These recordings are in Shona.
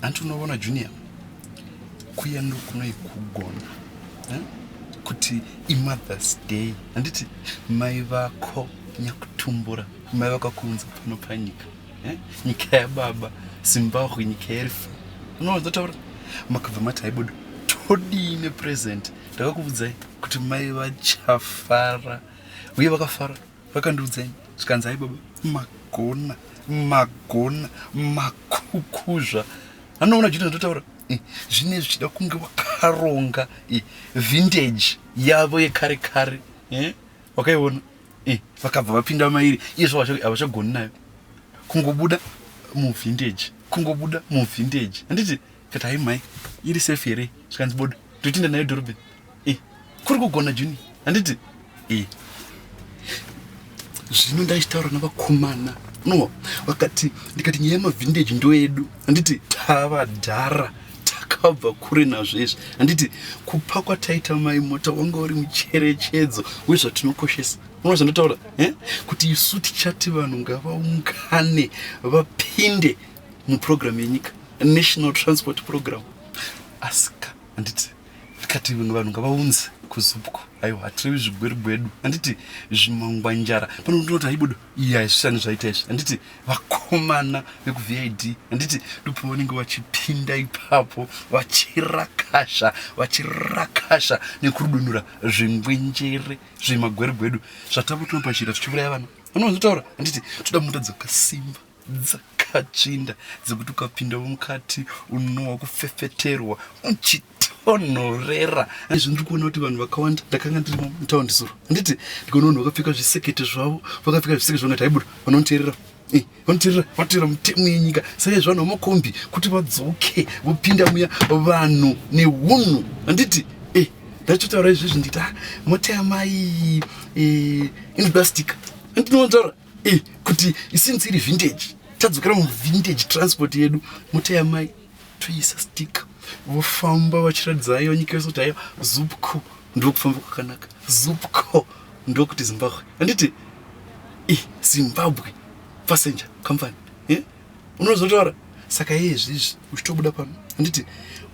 hanti unovona junior kuya ndokunoi kugona eh? kuti imothers day handiti mai vako nyakutumbura mai vako kunze pano panyika eh? nyika yababa zimbabwe nyika yerifa unozotaura makabva mati haibudo todii nepresent ndakakuvudzai kuti mai vachafara uye vakafara vakandiudza ini zvikanzi hai baba magona magona makukuzva anoona zvino zvotaura eh, zvine zvichida kunge wakaronga eh, vintage yavo yekare kare eh, wakaiona vakabva vapinda mairi izvo havachagoni nayo kungobuda muvintage kungobuda muvintage handiti Kati hai mai, iri safe here? Zvikanzi bodo, totinda nayo dhorobheni. Eh, kuri kugona Juni. Handiti? Eh. Zvino ndaitaura navakomana. No, vakati ndikati nyaya yemavhindeji ndoedu. Handiti tava dhara takabva kure nazvo izvi. Handiti kupa kwataita mai mota wanga uri mucherechedzo wezvatinokoshesa unoona zvandotaura eh? kuti isu tichati vanhu ngavaungane vapinde muprogram yenyika national transport program asika handiti ndikati vanhu ngavaunze kuzupko aiwa hatirevi zvigweru gwedu handiti zvimangwanjara pano ndinoti aibudo iya zvishani zvaita izvi handiti vakomana vekuvid handiti ndipo vanenge vachipinda ipapo vachirakasha vachirakasha nekurudunura zvingwenjere zvemagweru gwedu zvatava kutona pachira tichiuraya vana vanozotaura handiti toda mota dzakasimba dzakatsvinda dzekuti ukapindawo mukati unowa kufefeterwa uchitonhorera izvi ndiri kuona kuti vanhu vakawanda ndakanga ndiri mutaundi zuro handiti ndikaona vanhu vakapfeka zvisekete zvavo vakapfeka zvisekete zvavo ngati haibuda vanoteerera Eh, vanoteerera vatoera mutemo yenyika saka izvanhu vamakombi kuti vadzoke vopinda muya vanhu neunhu handiti eh, ndachotaura izvezvi nditi ah, mota yamai eh, inodastika andinowanzvara e kuti since iri vintage tadzokera muvintage transport yedu moteya mai toisa stick vofamba vachiratidza ayo nyika yose kuti ayo zupco ndokufamba kwakanaka zupco ndokuti zimbabwe handiti e zimbabwe passenger company yeah? unozotaura saka iye izvizvi uchitobuda pano handiti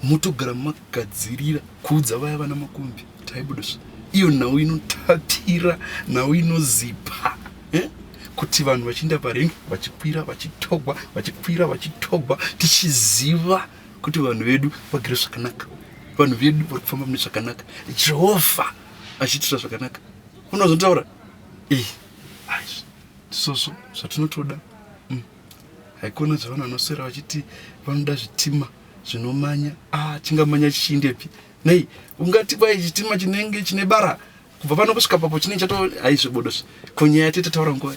motogara makagadzirira kuudza vaya vana makumbi taibudiswa iyo nhau inotapira nhau inozipa eh? kuti vanhu vachiinda parengi vachikwira vachitogwa vachikwira vachitogwa tichiziva kuti vanhu vedu vagere zvakanaka vanhu vedu vari kufamba mune zvakanaka jehovha achiitira zvakanaka unozotaura ii eh, aizvi ndisozvo zvatinotoda mm. haikona zvavanhu vanoswera vachiti vanoda zvitima zvinomanya ah, chingamanya chichiindepi nei ungati kwai chitima chinenge chine bara kubva pano kusvika papo chinenge chato haizvibodozve ko nyaya yatete taura nguva